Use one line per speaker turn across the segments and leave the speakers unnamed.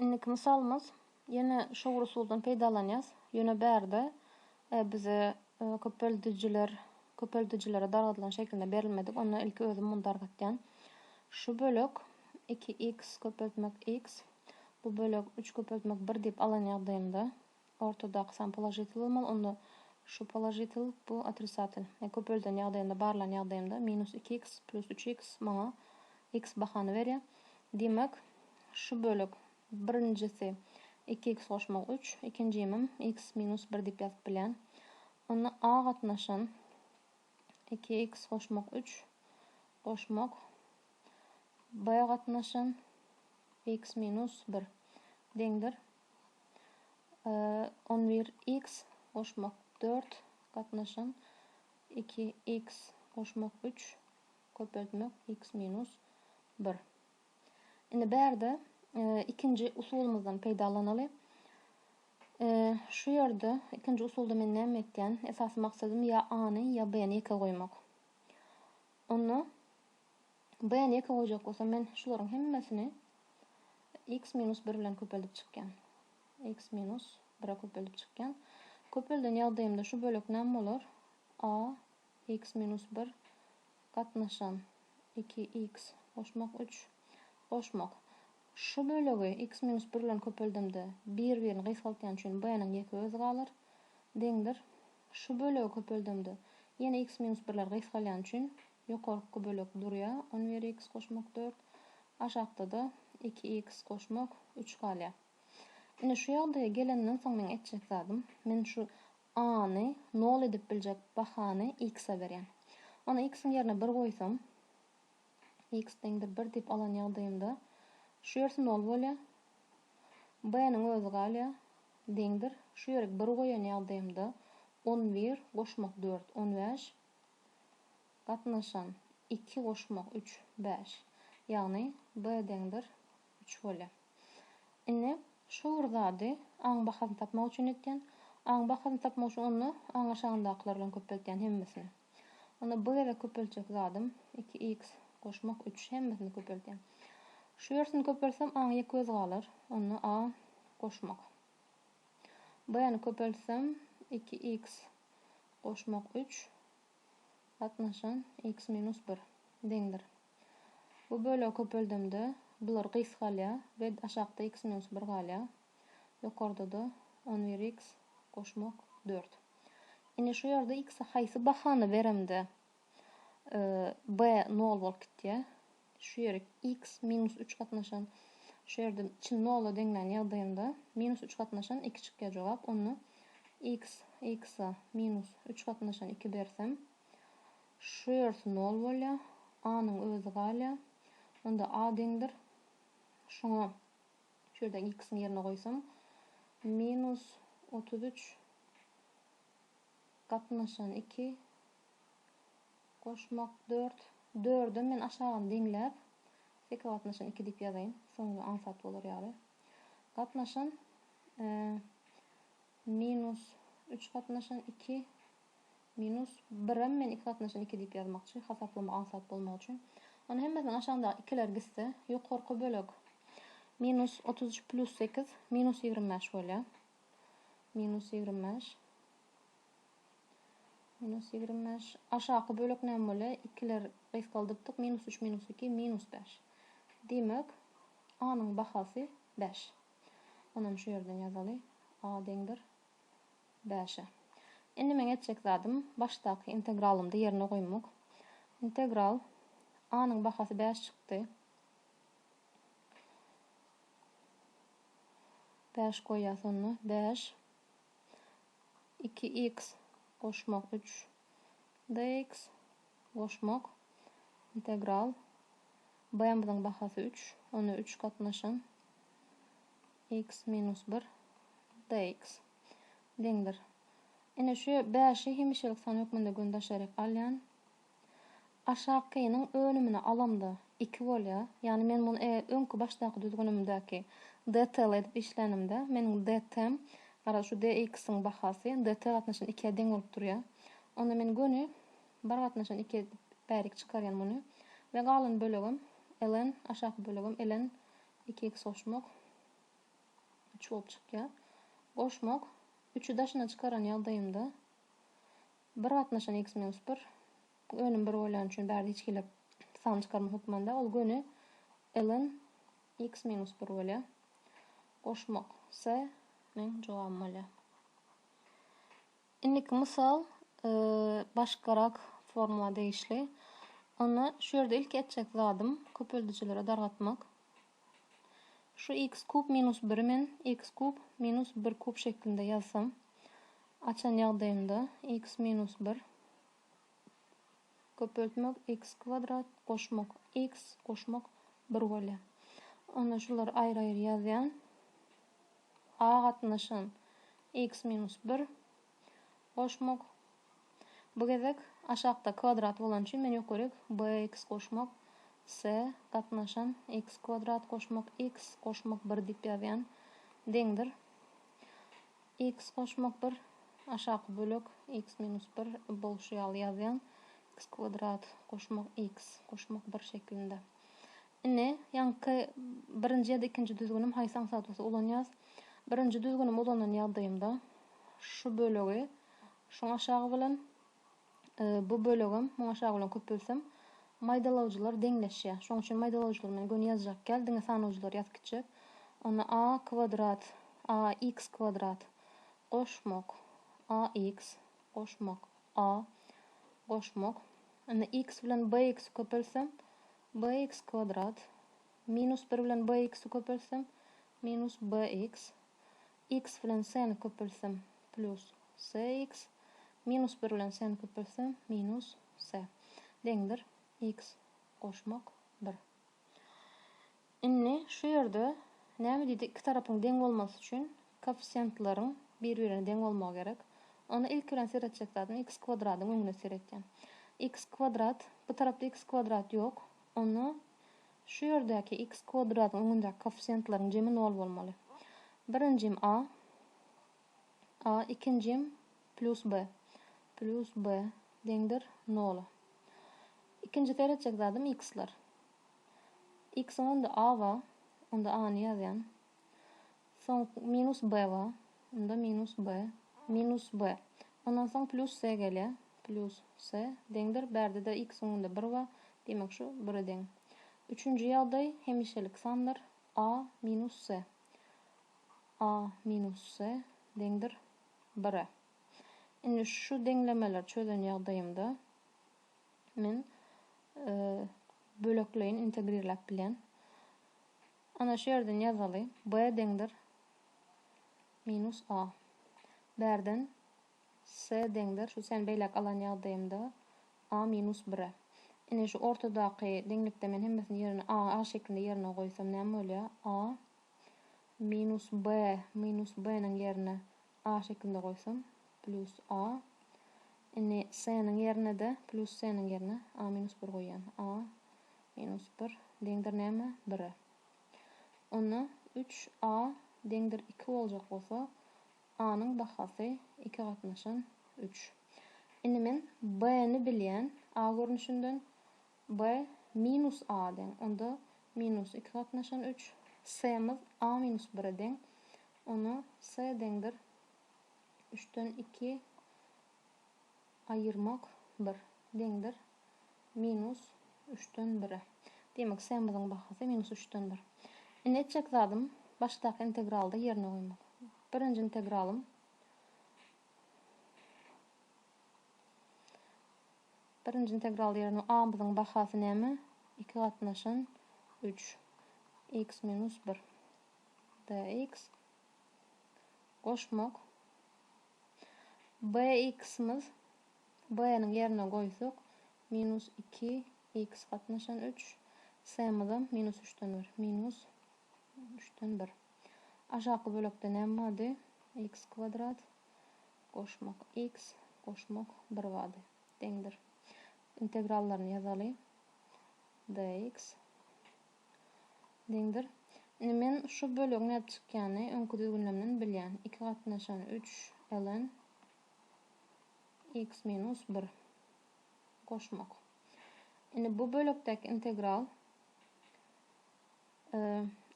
Indiki mysalymyz, ýene şowur usuldan peýdalanýas, ýöne bärde bize köpeldijiler, köpeldijilere dargadylan şekilde berilmedik, onda ilki özüm muny dargatýan. Şu bölek iki x köpeltmek x, bu bölek üç köpeltmek bir diýip alan ýagdaýymda, Ortadaky san položitel bolmaly, onda şu položitel, bu otrisatel. E köpelden ýagdaýynda, barlan ýagdaýymda, minus iki iks plus üç iks maňa iks bahany berýär. Diýmek, şu bölek, birinjisi iki iks goşmak üç, ikinjimim iks minus bir diýip ýazyp bilýän. Onda A gatnaşan iki iks goşmak üç goşmak B gatnaşan iks minus bir deňdir On bir iks goşmak dört gatnaşan iki iks goşmak üç köpeltmek iks minus bir. Indi bärde ikinji usulymyzdan peýdalanaly. Şu ýerde ikinji usulda men näme etýän? Esasy maksadym ýa A-ny, ýa B-ni ýeke goýmak. Onda B-ni ýeke goýjak bolsam men şularyň hemmesini x minus bir bilen köpeldip çykýan. x minus bire köpeldip çykýan. Köpelden ýagdaýymda şu bölek näme bolar? A x minus bir gatnaşan iki x goşmak üç goşmak. Şu bölegi x minus bir bilen köpeldemde bir-birini gysgaltýan üçin B-niň ýeke özi galar. Deňdir. Şu bölegi köpeldemde ýene x minus birler gysgalýan üçin Ýokarky bölek durýar, on bir iks goşmak dört, aşakda-da iki iks goşmak üç galýar. Indi şu ýagdaýa gelenden soň meň etjek zadym, men şu A-ny nol edip biljek bahany iks-e berýän. Onda iks-iň ýerine bir goýsam, iks deňdir bir diýip alan ýagdaýymda, şu ýersi nol bolýar, B-niň özi galýar, deňdir, şu ýerik bir goýan ýagdaýymda, on bir goşmak dört, on bäş, Gatnaşan, iki goşmak üç, bäş. Ýagny, B deňdir üç bolýa. Indi şu bir zady A-nyň bahasyny tapmak üçin etýän. A-nyň bahasyny tapmak üçin onda A-nyň aşagyndakylar bilen köpeltýän hemmesini. Onda bir gezek köpeltjek zadym iki x goşmak üç. Hemmesini köpeltýän. Şu ýersini köpeltsem A-nyň ýeke özi galar. Onda A goşmak. B-ni köpeltsem iki x goşmak üç gatnaşan x minus bir deňdir. Bu bölegi köpeldemde bular gys galýar we aşakda x minus bir galýar. Ýokarda-da on bir x goşmak dört. Ine şu ýerde x-e haýsy bahany beremde b nol bolup gitýär. şu ýerik x minus üç gatnaşan, şu ýerde çyn nola deňlän ýagdaýynda minus üç gatnaşan iki çykýar jogap. Onda x x-a minus üç gatnaşan iki bersem, şu ýersi nol bolýar, a-nyň özi galýar. Onda a deňdir, şuňa şu ýerde x-iň ýerine goýsam, minus otuz üç gatnaşan iki, Goşmak dört. Dörde men aşagyny deňläp, seke gatnaşan iki diýip ýazaýyn. Soňunda aňsat bolar ýaly. Gatnaşan, e, minus üç gatnaşan iki, minus birem men iki gatnaşan iki diýip ýazmakçy, hasaplamak aňsat bolmagy üçin. Onda hemmesiniň aşagyndaky ikiler gitse, ýokarky bölek minus otuz üç plyus sekiz, minus ýigrimi bäş bolýar. Minus ýigrimi bäş. Minus ýigrimi bäş. Aşaky bölek näme bolýar? Ikiler gysgaldypdyk. Minus üç minus iki, minus bäş. Diýmek, A-nyň bahasy bäş. Onam şu ýerden ýazaly. A deňdir bäşe. Indi meň etjek zadym başdaky integralymda ýerine goýmak. Integral A-nyň bahasy bäş çykdy. Bäş goýýas onda. Bäş. iki iks goşmak üç dx goşmak integral bmyzyň bahasy üç, ony üç gatnaşan iks minus bir dx deňdir. Ine, şu bäşi hemişelik san hökmünde gün daşaryk alýan. Aşakynyň önümini alamda iki bolýa, ýagny men muny eger öňki başdaky düzgünimdäki DTL edip işlänimde meniň DT-m garaz şu DX-iň bahasy DT gatnaşan ikiýä deň bolup durýa. Onda men göni bir gatnaşan ikiýe edip bärik çykarýan muny we galan bölegem ln aşaky bölegem ln iki x goşmak üç bolup çykýa. Goşmak üçi daşyna çykaran ýagdaýymda Bir gatnaşan x minus bir önüm bir bolýany üçin bärde hiç hili sany çykarma hökmanda ol göni ln x minus bir bolýar. Goşmak C nyň jogaby bolýar. Indiki mysal başgarak formula degişli. Onda şu ýerde ilki etjek zadym köpeldijilere dargatmak. Şu x kub minus biri men x kub minus bir kub şeklinde ýazsam, açan ýagdaýymda x minus bir, köpeltmek, x kwadrat, goşmak, x, goşmak, bir bolýar. Onda şulary aýry-aýry ýazýan. A gatnaşan x minus bir. goşmak. Bu gezek aşakda kwadrat bolany üçin men ýokaryk bx goşmak s gatnaşan x kwadrat goşmak x goşmak bir diýip ýazýan deňdir x goşmak bir aşaky bölek x minus bir bolşy ýaly ýazýan x kwadrat goşmak x goşmak bir şeklinde Ine, ýaňky birinji ýa-da ikinji düzgünim haýsy aňsatmasy ulanýas? Birinji düzgünimi ulanan ýagdaýymda şu bölegi şuň aşagy bilen, bu bölegem muň aşagy bilen köpeltsem, maýdalawjylar deňleşýär. Şoň üçin maýdalawjylary men göni ýazjak däl, diňe sanawjylary ýazyp gitjek. Onda a kwadrat, a x kwadrat, goşmak, a x, goşmak, a, goşmak. Indi x bilen b x köpeltsem, Bx kwadrat, minus bir bilen bx-i köpeltsem, minus bx, x bilen s-ni köpeltsem, plus sx, minus bir bilen s-ni köpeltsem, minus s, deňdir, x goşmak bir. Indi şu ýerde näme diýdi, iki tarapyň deň bolmasy üçin Koeffisiýentleriň bir-birine deň bolmagy gerek. Onda ilki bilen seretjek zadyň x kwadradyň öňüne seretýän. X kwadrat, bu tarapda x kwadrat ýok. Onda şu ýerdäki x kwadradyň öňündäki koeffisiýentleriň jemi nol bolmaly. Birinjim a, a, ikinjim plus b, plus b deňdir nola. Ikinji seretjek zadym x-ler. X-iň öňünde a bar, onda a-ny ýazýan. Soň minus b bar. Onda minus b, minus b. Ondan soň plus c gelýär. Plus c deňdir. Bärde-de x öňünde bir bar. Diýmek, şu bire deň. Üçünji ýagdaý hemişelik sandyr. A minus c. A minus c deňdir bire. Indi şu deňlemeleri çözen ýagdaýymda men bölekleýin integrirläp bilýän. Ana şu ýerden ýazaly, B deňdir minus A. Bärden C deňdir, şu C-ni beýläk alan ýagdaýymda, A minus bire. Ine şu ortadaky deňlikde men hemmesini ýerine A, A şeklinde ýerine goýsam näme bolýar? A minus B minus B-niň ýerine A şekilde goýsam, plus A. Indi C-niň ýerine-de plus C-niň ýerine A minus bir goýýan. A minus bir deňdir näme? Bire. Onda üç A deňdir iki boljak bolsa, A-nyň bahasy iki gatnaşan üç. Indi men B-ni bilýän, A görnüşinden, B minus A deň. Onda minus iki gatnaşan üç. C-miz A minus bire deň. Ona C deňdir üçden iki aýyrmak bir deňdir minus üçden bire. Diýmek, C-miziň bahasy minus üçden bir. Indi etjek zadym başdaky integralda ýerine goýmak. Birinji integralym. Birinji integral ýerine a-myzyň bahasy näme? Iki gatnaşan üç. X minus bir. Dx. Goşmak. Bx-myz b-niň ýerine goýsak, minus iki x gatnaşan üç. S-myzam minus üçden bir. Minus üçden bir. Aşaky bölekde näme bardy? X kwadrat. goşmak X goşmak bir bady deňdir. Integrallaryny ýazaly. Dx deňdir. Indi men şu bölegi nädip çykýany öňki düzgünlemden bilýän. Iki gatnaşan üç ln X minus bir goşmak. Indi bu bölekdäki integral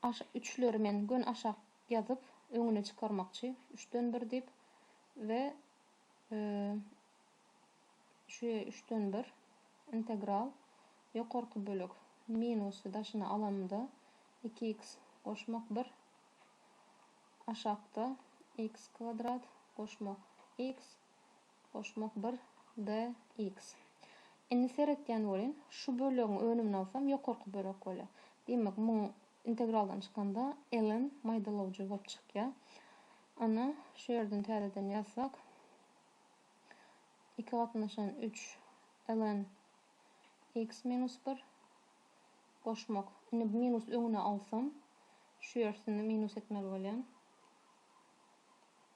Aşa üçleri men gön aşak ýazyp öňüne çykarmakçy. Üçden bir diýip we şu üçden bir integral ýokarky bölek minusy daşyna alanymda iki x goşmak bir aşakda x kwadrat goşmak x Goşmak bir DX. Indi seretýän welin, şu bölegiň önümini alsam ýokarky bölek bolýar. Diýmek, muň integraldan çykanda ln maýdalawjy bolup çykýar. Ana, şu ýerden täzeden ýazsak, iki gatnaşan üç ln x minus bir goşmak. Indi bu minus öňüne alsam, şu ýersini minus etmeli bolýan.